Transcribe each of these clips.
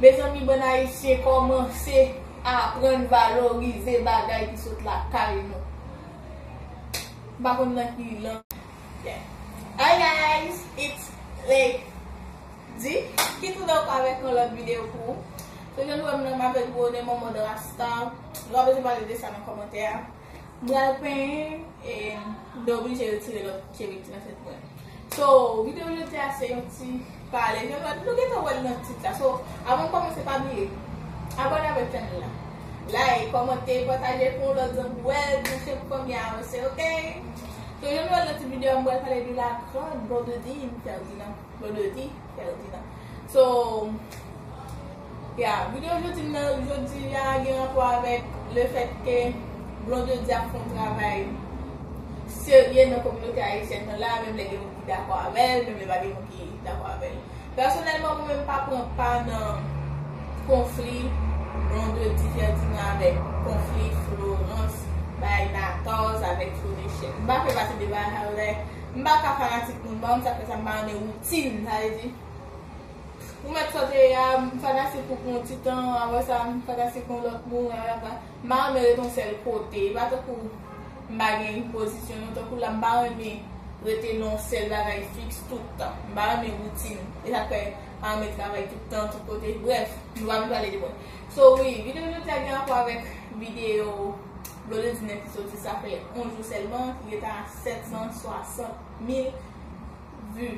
Mezanmi bann ayisyen kòmanse aprann valorize bagay ki sot lakay nou m pa konn nan ki lang Hi guys it's Lady ki tou nan avèk yon lòt video pou ou so jan nou wèm la m avèk gwo nen mòmòd rasta nou pa bezwen pale de sa nan kòmantè a. M pral penyen e m te oblije retire lòt cheveux ki t nan tèt mwen. So, video jodi a se yon ti pale jan sa, nou gentan wè l nan tit la. So, avan m kòmanse pa bliye abone avèk channel la, like, kòmante, pataje pou yon lòt zanmi wè l, pou chèn pou fanmi a avanse ok. So, jan nou wè l nan tit video a m pral pale de la grande Blondedy Ferdinand, Blondedy Ferdinand. So. Ya, video jodi m nan jodi ya gen rapò avèk le fèt ke Blondedy ap fè yon travay serye nan kominote ayisyèn nan la, menm lè gen moun ki dakò avè l, menm lè pa gen moun ki dakò avè l. Pèsonèlman mwen menm m pa pran pa nan konfli Blondedy Ferdinand avèk konfli Florence bay Nators avèk Flo Michel. M pa fè pati deba sa yo dayè m pa ka fanatik moun, m pa konn sa k fè sa m pa renmen woutin, sa vle di. Ou mèt sòte ya, m fanatik ou pou yon ti tan, aprè sa m fanatik yon lòt moun, la la la. M pa renmen ret yon sèl kote, e pa tankou m pa gen yon pozisyon non, tankou la m pa renmen rete nan yon sèl bagay fiks tout tan. M pa renmen woutin, e sa k fè m pa renmen travay tout tan, tout kote, brèf. Nou pa vin pale de mwen. So wi, videyo jodi a gen rapò avèk videyo Blondedine ki sòti sa fè 11 jou sèlman, ki gentan a 760 mil vu.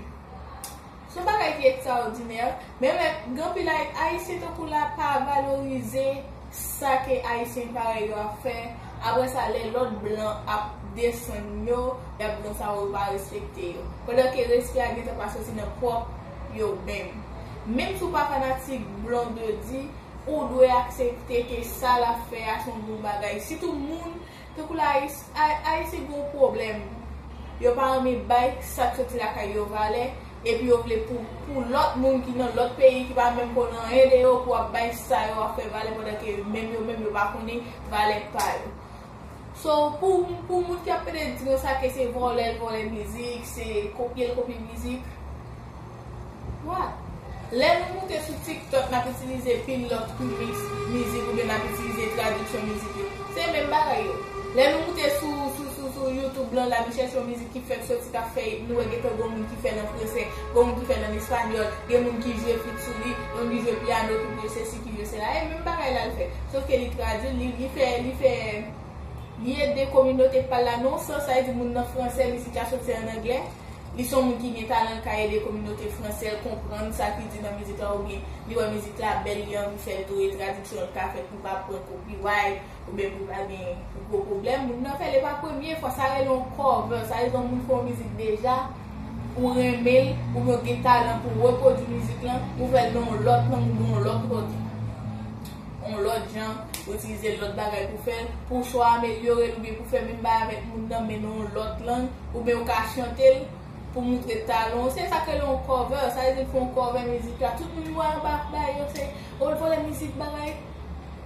Son bagay ki ektraòdinè, men lè ganpil Ayisyen tankou la pa valorize sa ke Ayisyen parèy yo ap fè, apre sa lè lòt blan ap desann yo, yap gran sa yo pa respekte yo. Pandan ke respè a gentan pa soti nan pwòp yo menm. Menm si w pa fanatik Blondedy, ou dwe aksepte ke sa lap fè a son bon bagay. Sitou moun Tankou la ayiti gen yon pwoblèm yo pa anvi bay sak soti lakay yo valè epi yo vle pou lòt moun ki nan lòt peyi ki pa menm konn anyen de yo pou ap bay sa yo ap fè valè pandan ke menm yo menm yo pa konnen valè pa yo so pou moun ki ap pede di konsa ke se vòlè l vòlè mizik se kopye l kopye mizik. Lè nou moute sou TikTok, n ap itilize pil lòt remix mizik oubyen n ap itilize tradiksyon mizik yo. Se menm bagay yo. Lè nou moute sou YouTube lan, n ap chèche yon mizik ki fèk soti, k ap fè it, nou wè gen tan gen yon moun ki fè l an franse, gen yon moun ki fè l an espanyòl, gen moun ki jwe flit sou li, gen moun ki jwe pyano, ki jwe sesi, ki jwe sela. E menm bagay la l fè. Sof ke li tradui l, li fè, li fè, li ede kominote pa l la non san sa e di moun nan franse, mizik la soti an anglè. Li son moun ki gen talan li ka ede kominote fransè konprann sa ki di nan mizik la oubyen li wè mizik la bèl li anvi fèl tou e tradiksyon an ka fèt pou pa pran kopiray oubyen pou pa gen gwo pwoblèm moun nan fèl e pa premye fwa sa rele yon cover sa vle di yon moun fè yon mizik deja ou renmen l oubyen ou gen talan pou repwodui mizik lan ou fèl nan yon lòt lang oubyen yon lòt lòt yon lòt jan ou itilize lòt bagay pou fèl pou w swa amelyore l oubyen pou fè menm bagay avèk moun nan men nan yon lòt lang. Oubyen ou ka chante l pou moutre talon w. Se sa k rele yon cover. Sa vle di l fè yon cover mizik la. Tout moun wè anba ap bay yo se oh l vòlè mizik bagay.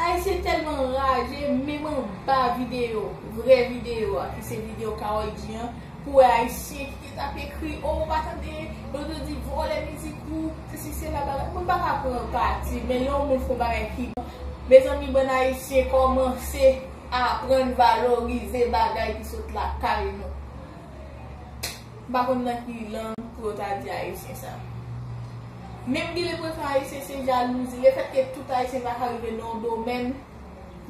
Ayisyen tèlman anraje menm anba videyo, vrè videyo a ki se videyo Karol G an pou wè ayisyen ki te tap ekri oh ou pa tande yo te di vòlè mizik ou sesi sela bagay. Moun pa ka pran pati men lè yon moun fè yon bagay ki bon mezanmi bann ayisyen kòmanse Aprann valorize bagay ki sot lakay nou. M pa konn nan ki lang pou yo ta di Ayisyen sa. Menm genlè pou yo fè Ayisyen se jalouzi. Le fèt ke tout Ayisyen pa ka rive nan yon domèn,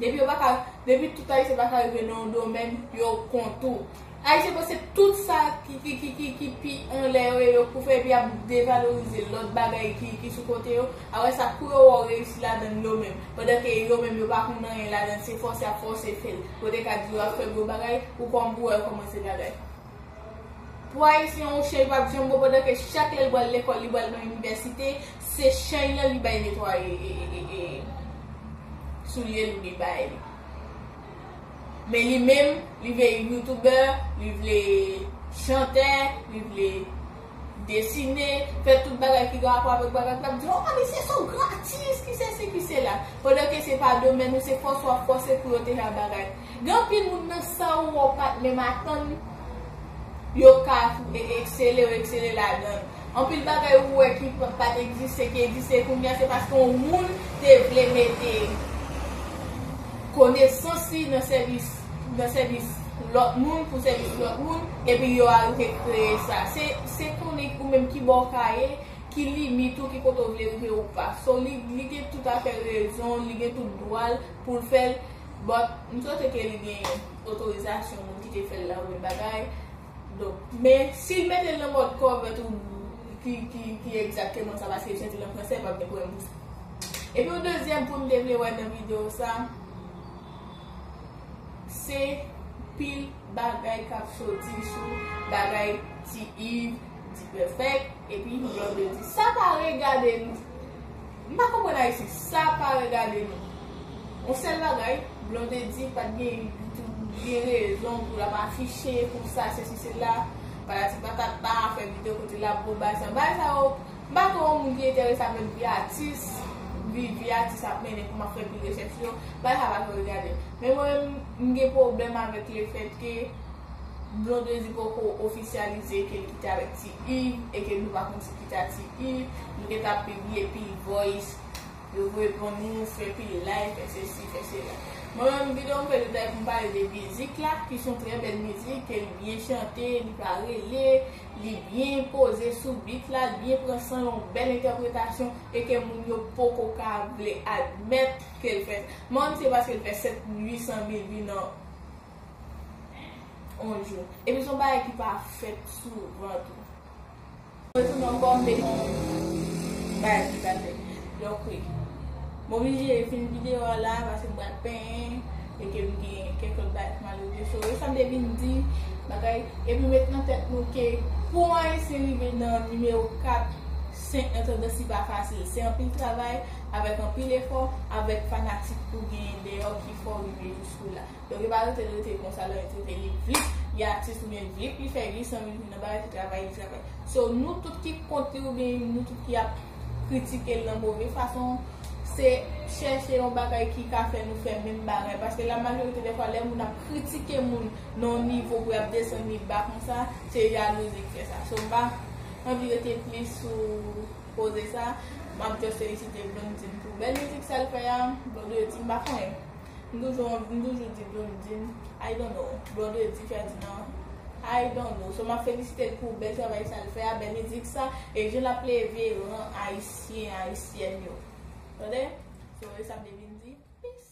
depi yo pa ka, depi tout Ayisyen pa ka rive nan yon domèn, yo kont ou. Ayisyen panse tout sa ki pi anlè yo ye yo pou fè epi ap devalorize lòt bagay ki sou kote yo, apre sa kou yo wè w reyisi ladan l yo menm, pandan ke yo menm yo pa konn anyen ladan l se fòse ap fòse fè l, pou yo te ka di yo ap fè gwo bagay, ou kòm pou wè yo kòmanse bagay. Pou Ayisyen yon cheny pap janm bon pandan ke chak lè l pral lekòl li pral nan inivèsite se cheny an li bay netwaye soulye l ou li bay li. Men li menm li vle youtuber, li vle chantè, li vle desine, fè tout bagay ki gen rapò avèk bagay k ap di oh papi se sa w gratis, ki sesi ki sela. Pandan ke se pa domèn ou, se fòs w ap fòse pou yo te fè bagay. Gen anpil moun nan sa ou wè w pa t menm atann yo ka eksele, yo eksele ladan l. Anpil bagay ou wè ki pat egziste ki egziste kounya se paske yon moun te vle mete konesans li nan sèvis nan sèvis lòt moun pou sèvis lòt moun epi yo arive kreye sa se konnen ou menm ki bò w ka ye ki limit ou ki kote w vle rive ou pa so li gen tout afè rezon l li gen tout dwa l pou l fè l but m swete ke li gen otorizasyon moun ki te fè l la ou lòt bagay. Donk, men, si l mete l nan mòd kòvèt ou ki egzakteman sa paske li soti nan franse, pa p gen pwoblèm pou sa. Epi yon dezyèm pwen m te vle wè nan videyo sa, se pil bagay k ap soti sou bagay Ti Iv, Dipèfèk epi Blondedy. Sa pa regade nou. M pa konprann Haiti sa pa regade nou on sel bagay Blondedy pat gen gen rezon pou lap afiche konsa sesi sela patati patata fè video kote lap bon bagay sa bagay sa yo m pa kwè on moun ki enterese avek vi atis vi vi atis ap mennen kòman ap fè pi rechèch yo bagay sa pa tro regade m men mwen menm m gen pwoblèm avek le fèt ke Blondedy poko ofisyalize ke li kite avek ti Yves e ke nou pa konn si. Dati i, Nou gen ta pibliye pil voice, yo voye pran nou, fè pil live, fè sesi, fè sela. Mwen menm videyo m fè jodia pou m pale de mizik la, ki son trè bèl mizik, ke li byen chante, li pa rele, li byen poze sou beat la, li byen pran san, yon bèl entèpretasyon, e ke moun yo poko ka vle admèt ke l fè sa. Mwen menm se paske l fè 7 mil 800 mil vi nan on jou. Epi son bagay ki pa fèt souvan tou. Retou nan kòm de yon bagay ki pa fèt. Donk wi. M oblije fin videyo a la paske m pral penyen e ke m gen kèk lòt bagay pou m al regle. So, e sa m te vin di bagay e pou met nan tèt nou ke pou yon Ayisyen rive nan nimewo 4, 5 nan tandans li pa fasil. Se anpil travay, avèk anpil efò, avèk fanatik ou genyen deyò ki fè w rive jouskou la. Donk yo pa rete l rete konsa lè yo trete li vlip li atis oubyen vlip li fè glis anvi l vin nan bagay ki travay li travay. So nou tout ki kont li oubyen nou tout ki ap kritike l nan move fason se chèche yon bagay ki ka fè nou fè menm bagay paske la majorite dè fwa lè moun ap kritike moun nan yon nivo pou y ap desann li ba konsa se jalouzi k fè sa. So m pa anvi rete plis sou koze sa m ap just felisite Blondedy pou bèl mizik sa l fè a Blonde di m pa konnen. M toujou anvi, m toujou di Blondine, I don't know, Blonde di Ferdinand, I don't know. So map felisitel pou bèl travay sa l fè a, bèl mizik sa, e jan lap leve ran ayisyen, ayisyèn yo. Tande? So e sa m te vin di. Peace.